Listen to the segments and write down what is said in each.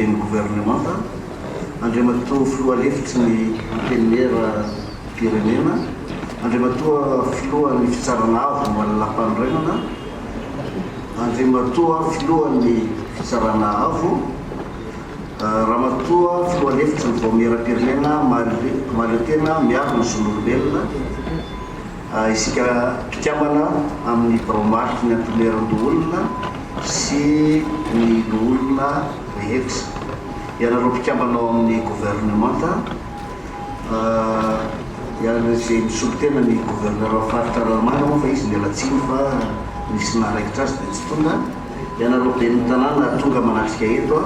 Ben'ny governemanta, Andriamatoa Filoha Lefitry ny Antenimieram-pirenena, Andriamatoa Filohan'ny Fitsarana Avo momba ny Lampanorenana, Andriamatoa Filohan'ny Fitsarana Avo, Ramatoa Filoha Lefitry ny Vaomieram-pirenena Mahaleo Tena miaro ny Zon'olombelona, Isika mpikambana amin'ny birao mariky ny antomerin-doholona sy ny loholona rehetra, ianareo mpikambana ao amin'ny governemanta, ianareo izay misolo tena ny governeran'ny faritra Analamanga moa fa izy niala tsiny fa nisy naha raikitra azy dia tsy tonga, ianareo ben'ny tanàna tonga manatrika eto,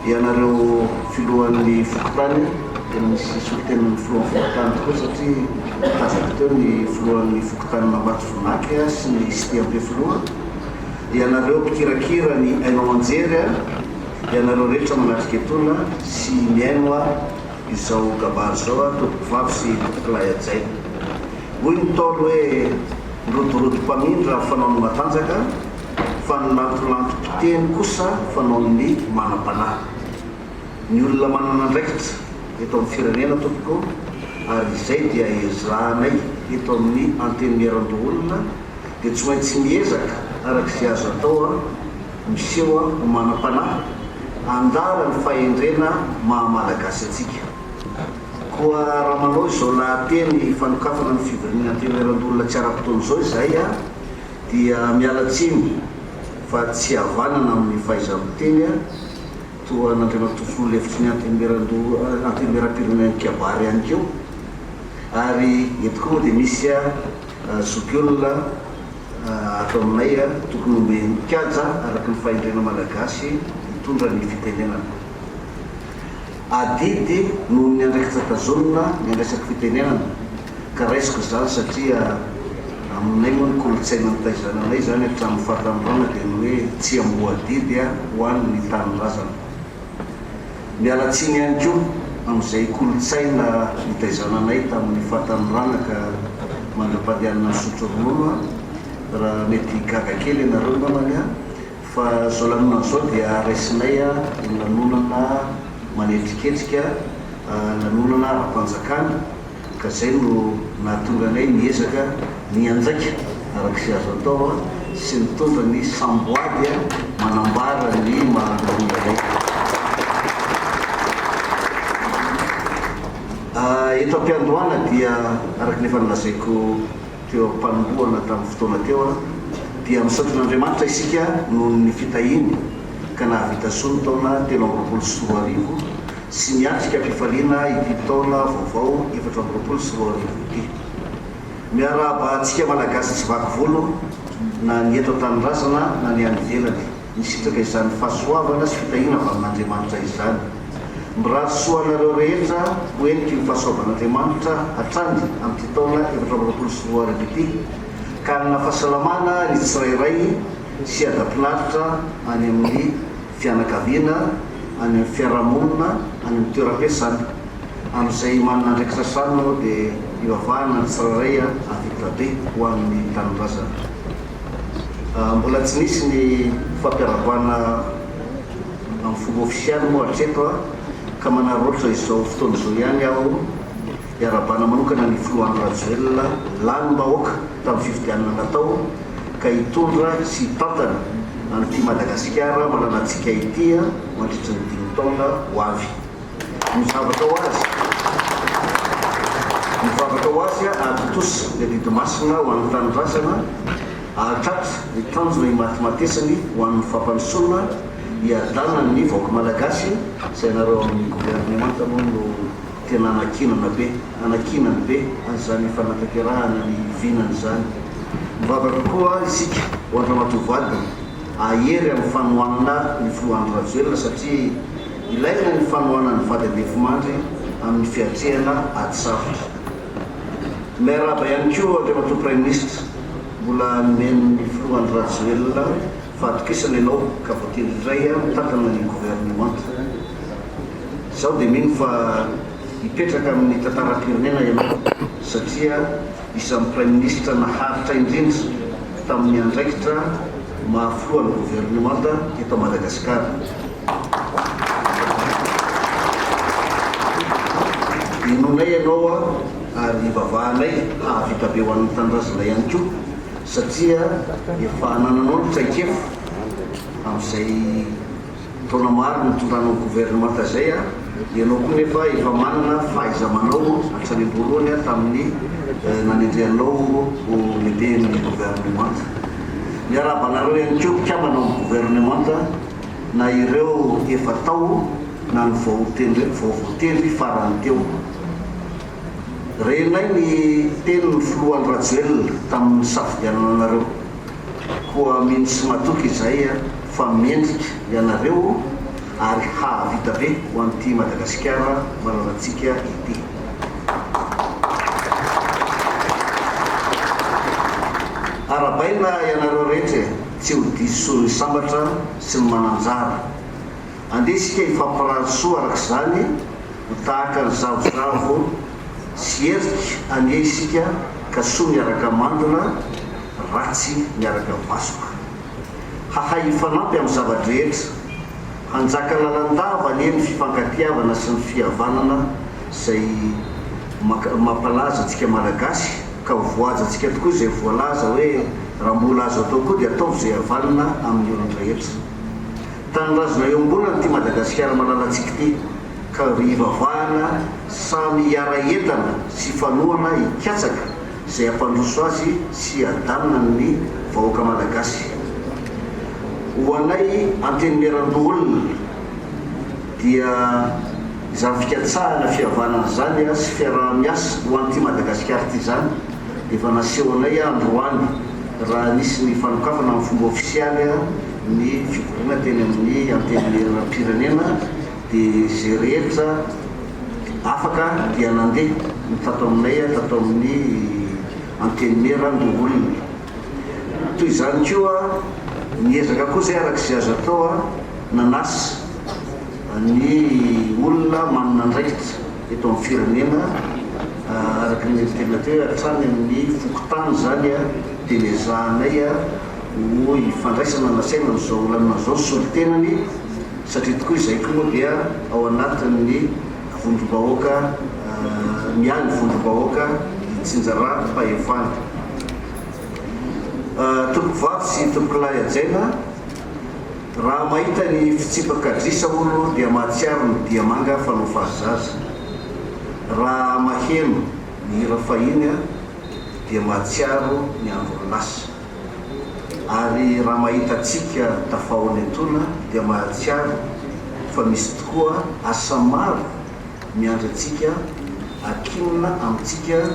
Ianareo filohan'ny fokontany dia misy solontenan'ny filohan'ny fokontany tokoa satria tazako teo ny filohan'ny fokontanin'Ambato Vonaky sy ny Cité Ampefiloha. Ianareo mpikirakira ny haino aman-jery a! Ianareo rehetra manatrika etona sy mihaino a! izao kabary izao a! Tompoko vavy sy tompoko lahy hajaina! Hoy ny Ntaolo hoe, Ny rodorodo mpamindra fanaony matanjaka, fa ny lantolantom-piteny kosa fanaon'ny manam-panahy. Ny olona manana andraikitra eto amin'ny firenena tompoko ary izay dia ezahanay eto amin'ny Antenimierandoholona dia tsy maintsy miezaka araka izay azo atao an, miseho ho manam-panahy, andala ny fahendrena maha Malagasy antsika. Koa raha manao izao lahateny fanokafana ny fivorian'ny Antenimierandoholona tsy ara-potoana izao izahay an, Dia miala tsiny fa tsy havanana amin'ny fahaiza-miteny aho, toa an'Andriamatoa Filoha lefitry ny Antenimierampirenenan'ny Kabary ihany koa, ary eto koa moa dia misy zokiolona ato aminay tokony omeny kaja araka ny fahendrena malagasy hitondra ny fitenenana. Adidy noho ny andraikitra tazonina ny resaky fitenenana ka raisiko izany satria aminay moa ny kolontsaina nitaizana anay izany hatramin'ny fahatanorana dia ny hoe tsy amboadidy ho any ny tanindrazana. Miala tsiny ihany koa amin'izay kolontsaina nitaizana anay tamin'ny fahatanorana ka mandra-pandehanana misotro ronono aho raha mety gaga kely ianareo angambany aho Fa izao lanonana izao dia raisinay ho lanonana manetriketrika, lanonana ara-panjakana, ka izay no nahatonga anay niezaka nianjaika araka izay azo atao sy nitondra ny samboady manambara ny maha antonona anay. Eto am-piandohana dia araka ny efa nolazaiko, teo am-panombohana tamin'ny fotoana teo aho, dia misaotra an'Andriamanitra isika noho ny fitahiany ka nahavita soa ny taona telo amby roapolo sy roa arivo sy miatrika am-pifaliana ity taona vaovao efatra amby roapolo sy roa arivo ity. Miarahaba antsika Malagasy tsy vaky volo na ny eto an-tanindrazana na ny any ivelany. Nisitraka izany fahasoavana sy fitahiana avy amin'Andriamanitra izany. Mirary soa anareo rehetra ho heniky ny fahasoavan'Andriamanitra hatrany amin'ity taona efatra amby roapolo sy roa arivo ity, ka hanana fahasalamana ny tsirairay sy hadam-pinaritra any amin'ny fianakaviana, any amin'ny fiarahamonina, any amin'ny toeram-piasana. Amin'izay manana andraikitra hatrany moa dia hivavahana ny tsirairay hahavita be ho an'ny tanindrazana. Mbola tsy nisy ny fampiarahabana amin'ny fomba ofisialy moa hatreto ka manararaotra izao fotoana izao ihany aho hiarahabana manokana ny Filoha Andry Rajoelina lanim-bahoaka tamin'ny fifidianana natao ka hitondra sy hitantana an'ity Madagasikara malalantsika ity mandritry ny dimy taona ho avy. Ny zavatra ho azy Ny zavatra ho azy hahatontosa ny adidy masina ho an'ny tanindrazana, hahatratra ny tanjona imatimatesany ho an'ny fampandrosoana, hiadanana ny vahoaka malagasy, izay ianareo ao amin'ny governemanta moa no tena anankinana be, anankinany be an'izany fanatanterahana ny vinany izany. Mivavaka koa isika ho an-dramatoa vadiny, hahery amin'ny fanohanana ny filoha Andry Rajoelina satria, Ilaina ny fanohanan'ny vady andefimandry amin'ny fiatrehana ady sarotra. Miarahaba ihany koa Andriamatoa Praiminisitra, mbola nomen'ny Filoha Andry Rajoelina fahatokisana ianao ka voatendry indray mitantana ny governemanta. Izaho dia mino fa hipetraka amin'ny tantaram-pirenena ianao satria isan'ny Praiminisitra naharitra indrindra tamin'ny andraikitra maha Filohan'ny governemanta eto Madagasikara. Inoanay ianao ary ivavahanay hahavita be ho an'ny tanindrazana ihany koa satria efa anananao ny traikefa amin'izay taona maro nitondranao ny governemanta izay. Ianao koa nefa efa manana fahaiza-manao hatrany am-boalohany tamin'ny nanendrehanao ho lehiben'ny governemanta. Miarahaba anareo ihany koa mpikambana ao amin'ny governemanta. na ireo efa tao na ny vao voatendry farany teo. Renay ny tenin'ny filoha Andry Rajoelina tamin'ny nisafidianana anareo, koa mino sy matoky izay fa mendrika ianareo ary hahavita be ho an'ity Madagasikara malalantsika ity. Arahabaina ianareo rehetra e! Tsy ho diso soa ny sambatra sy ny mananjara. Andeha isika hifampirary soa araka izany ho tahaka ny zavozavo sy herika anie isika ka soa miaraka mandona, ratsy miaraka vasoka. Hahay hifanampy amin'ny zava-drehetra. Hanjaka lalandava anie ny fifankatiavana sy ny fihavanana izay mampalaza antsika Malagasy. ka ho voahajantsika tokoa izay voalaza hoe raha mbola azo atao koa dia ataovy izay havanana amin'ny olon-drehetra. Tanindrazona eo am-bolana ity Madagasikara malalantsika ity ka hivavahana samy hiara-hientana sy hifanohana hikatsaka izay hampandroso azy sy hadamina ny vahoaka malagasy. Ho anay Antenimierandoholona. dia izany fikatsahana fihavanana izany sy fiaraha-miasa ho an'ity Madagasikara ity izany dia efa naseho anay androany raha nisy ny fanokafana amin'ny fomba ofisialy ny fivoriana teny amin'ny Antenimieranam-pirenena dia izay rehetra afaka dia nandeha ny tato aminay tato amin'ny Antenimieran-doholona toy izany koa niezaka koa izay araka izay azo atao Nanasa ny olona manana andraikitra eto amin'ny firenena araka ny niantenaty hoe hatrany amin'ny fokontany izany dia ny ezahanay ho ifandraisana nasaina amin'izao lalana izao ny solontenany satria tokoa izay koa moa dia ao anatin'ny vondrom-bahoaka ny ahy ny vondrom-bahoaka itsinjaram-pahefana Tompokovavy sy Tompokilahy hajaina Raha mahita ny fitsipak'adrisa hono dia mahatsiaro ny diamanga fanao fahazaza. Raha maheno ny hira fahiny dia mahatsiaro ny andron'ny lasa. Ary raha mahita antsika tafahaona etoana dia mahatsiaro fa misy tokoa asa maro miandry antsika hakinina amintsika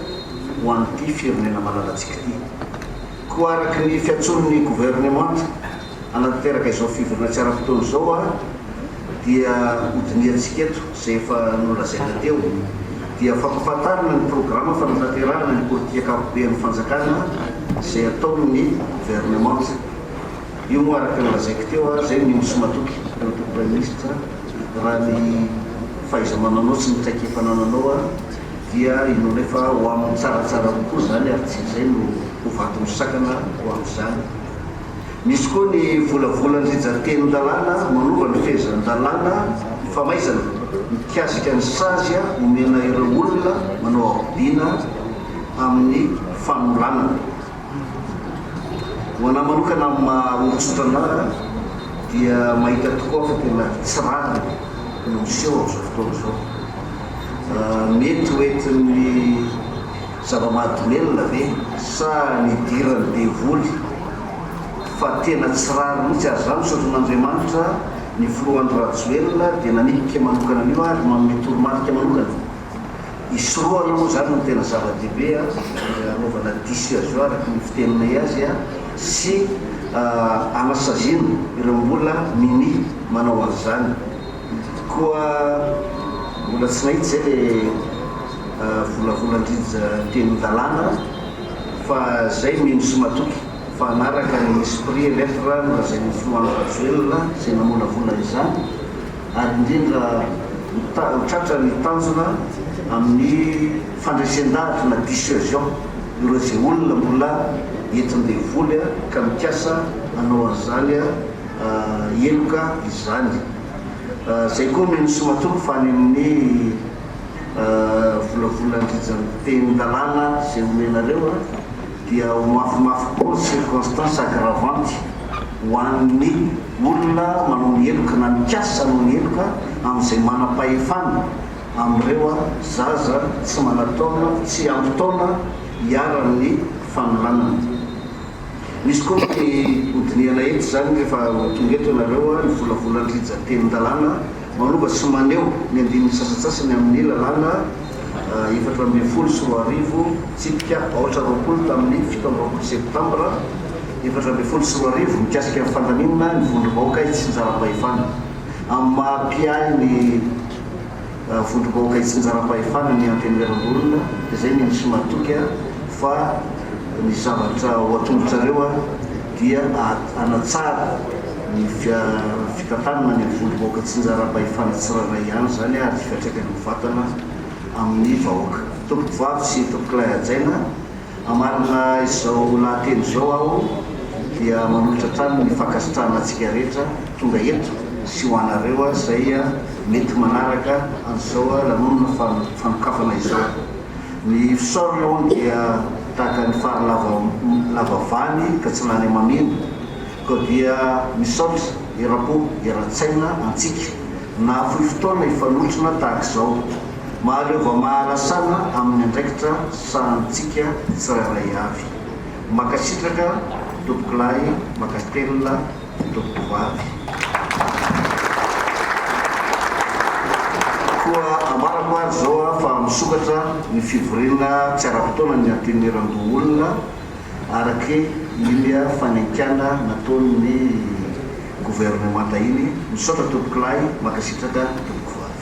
ho an'ity firenena malalantsika ity. Koa araky ny fiantsoan'ny governemanta. hanatanteraka izao fivoriana tsy ara-potoana izao aho dia hodinihantsika eto izay efa nolazaina teo dia fampafantarina ny programa fanatanterahana ny politika ankapoben'ny fanjakana izay ataon'ny governemanta io moa araka ny lazaiko teo aho izay ny minisitra matoky teo anatin'ny praiminisitra raha ny fahaiza-mananao sy ny traikefa anananao aho dia inoana efa ho amin'ny tsaratsara kokoa izany ary tsy izay no ho vato misakana ho amin'izany. Misy koa ny volavolan'ny rijan-tenin'ny lalàna manova ny fehezan'ny lalàna famaizana mikasika ny sazy omena ireo olona manao ahodina amin'ny fanolanana. Ho an'ahy manokana amin'ny maha olon-tsotra an'ahy dia mahita tokoa aho fa tena tsy rariny no miseho amin'izao fotoana izao. Mety ho entin'ny. Zava-mahadomelina ve sa nidiran'ny devoly fa tena tsy rariny mihitsy ary zah misaotra an'Andriamanitra ny filoha Andry Rajoelina dia nanipika manokana an'io ary manome toromarika manokana hisorohana moa zany no tena zava-dehibe a dia anaovana dissuasion araka ny fiteninay azy a sy anasaziana ireo mbola minia manao an'izany. Koa mbola tsy nahita izay le volavolan-dRija teny dalàna fa zay mino sy matoky fa hanaraka ny esprit et lettre nolazain'ny filoha Andry Rajoelina izay namolavola izany ary indrindra ho tratra ny tanjona amin'ny fandresen-dahatra na dissuasion ireo izay olona mbola entin-devoly ka mikasa hanao an'izany heloka izany. Izay koa no nisomatoko fa any amin'ny volavolan-dRijantenin-dalàna izay omenareo dia ho mafimafy kokoa ny circonstances aggravantes ho an'ny olona manao ny heloka na mikasa hanao ny heloka amin'izay manam-pahefana amin'ireo zaza tsy manataona, tsy ampy taona iharan'ny fanolanana. Misy koa ny hodinihana etsy izany rehefa ho tonga eto ianareo a, ny volavolan'ny rijantenin-dalàna manova sy maneho ny andininy sasantsasany amin'ny lalàna efatra ambin'ny folo sy roa arivo, tsipika aotra roapolo tamin'ny fito amby roapolo septambra efatra ambin'ny folo sy roa arivo mikasika ny fandaminana ny vondrom-bahoaka hitsinjaram-pahefana amin'ny maha-mpiahy ny vondrom-bahoaka itsinjaram-pahefana ny Antenimierambola izay ny misy matoky fa ny zavatra ao an-tongotrareo dia hanatsara ny fitantanana any amin'ny vondrom-bahoaka itsinjaram-pahefana tsirairay ihany izany ary fiantraikany mivantana amin'ny vahoaka. Tompom-pivavy sy tompokolahy hajaina Hamarina izao lahateny izao aho dia manolotra hatrany ny fankasitrahana antsika rehetra tonga eto sy ho anareo izay mety manaraka an'izao lanonana fanokafana izao. Ny fisaorana hono dia tahaka ny fary lava lava vany ka tsy lany hamamiana. Koa dia misaotra eram-po eran-tsaina antsika nahafoy fotoana hifanotrona tahaka izao. Mahaleo vao mahalasana amin'ny andraikitra sahanintsika tsirairay avy. Mankasitraka Tompokolahy Makasitelina Tompokovavy. Koa ambarako ary izao fa misokatra ny fivoriana tsy ara-potoana ny Antenimierandoholona araka iny fanenkeana nataon'ny Governemanta iny. Misaotra Tompokolahy, mankasitraka Tompokovavy.